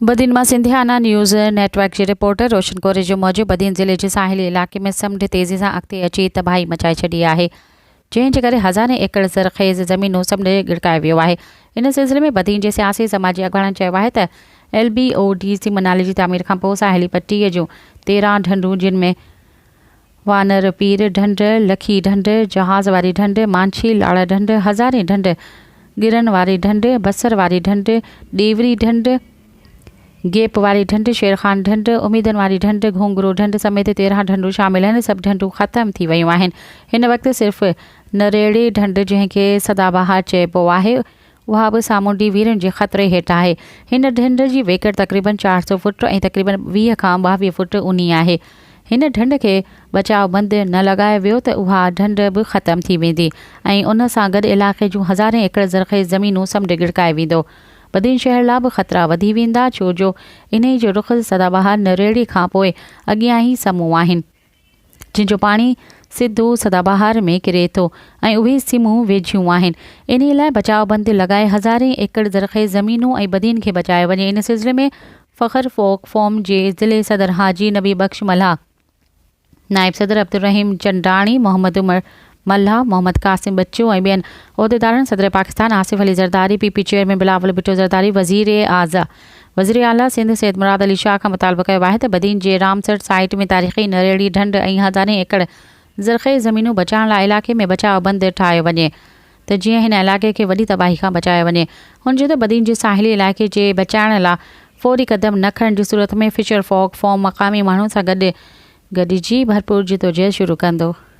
بدين مان Sindhiana news network جي reporter Roshan Kori جي موجب بدين ضلعي جي ساحلي علائقي ۾ سمنڊ تيزي سان اڳتي اچي تباهي مچائي ڇڏي آهي جنهن جي ڪري هزارين ايڪڙ زرخيز زمينون سمنڊ ڳڙڪائي ويو آهي ان سلسلي ۾ بدين جي سياسي سماجي اڳواڻن چيو آهي ته ايل بي او ڊي سيمن نالي جي تعمير کانپوء ساحلي پٽي جون تيرهن ڍنڍون جن ۾ وانر پير ڍنڍ، لکي ڍنڍ، جهاز واري ڍنڍ، مانڇي لاڙ ڍنڍ، هزارين ڍنڍ، ڳرن واري ڍنڍ، بصر واري ڍنڍ، ڏيوري ڍنڍ، گيپ واري ڍنڍ، شيرخان ڍنڍ، اميدن واري ڍنڍ، گهونگرو ڍنڍ سميت تيرهن ڍنڍون شامل آهن، سڀ ڍنڍون ختم ٿي ويون آهن. هن وقت صرف نريڙي ڍنڍ جنهن کي سدا بهار چئبو آهي اها به سامونڊي ويرين جي خطري هيٺ آهي. هن ڍنڍ جي ويڪر تقريبن چار سؤ فوٽ ۽ تقريبن ويهه کان ٻاويهه فوٽ اونهي آهي. هن ڍنڍ کي بچاء بند نه لڳايو ويو ته اها ڍنڍ به ختم ٿي ويندي ۽ ان سان گڏ علائقي جون هزارين ايڪڙ زرخيز زمينون سمنڊ ڳڙڪائي ويندو. بدين شهر لا به خطرا وڌي ويندا ڇو جو انهي جو رخ سدا بهار نريڙي کان پوء اڳيان ئي سمون آهن. جن جو پاڻي سڌو سدابهار ۾ ڪري ٿو ۽ اهي سمون ويجهيون آهن. انهي لاء بچاء بند لڳائي هزارين ايڪڙ زرخيز زمينون ۽ بدين کي بچايو وڃي ان سلسلي ۾ فخر فوڪ فورم جي ضلعي صدر حاجي نبي بخش ملاح، نائب صدر عبدالرحيم چنڊاڻي، محمد عمر ملاح محمد قاسم ٻچو ۽ ٻين عهديدارن صدر Pakistan Asif Ali Zardari, P P chairman Bilawal Bhutto Zardari, وزيراعظ وزيراعليٰ سنڌ سيد مراد علي شاهه کان مطالبو ڪيو آهي ته بدين جي رامسر سائيٽ ۾ تاريخي نريڙي ڍنڍ ۽ هزارين ايڪڙ زرخيز زمينون بچائڻ لاء علاقي ۾ بچاء بند ٺاهيو وڃي ته جيئن هن علائقي کي وڏي تباهي کان بچايو وڃي. هن چيو ته بدين جي ساحلي علائقي جي بچائڻ لاء فوري قدم نه کڻڻ جي صورت ۾ فشر فوڪ فورم مقامي ماڻهن سان گڏ گڏجي ڀرپور جدوجهد شروع ڪندو.